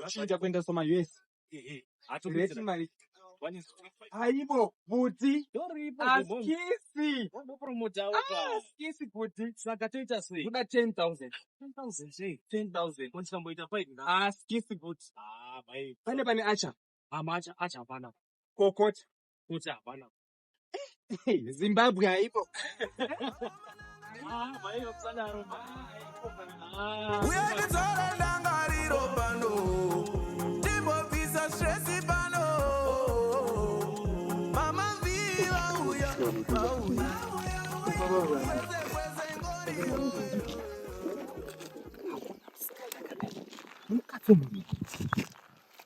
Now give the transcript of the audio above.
Chinja kuenda soma US. Reti mari. Aibo bhuti askisi askisi bhuti saka toita sei kuda 10000 10000 sei 10000 konzi kamboita 5 askisi bhuti pane pane acha amacha acha hapana kokota kuti hapana zimbabwe haipo uyandidzola ndangariro pano timbobvisa stresi pano mama mvii vauya vauya Thank you.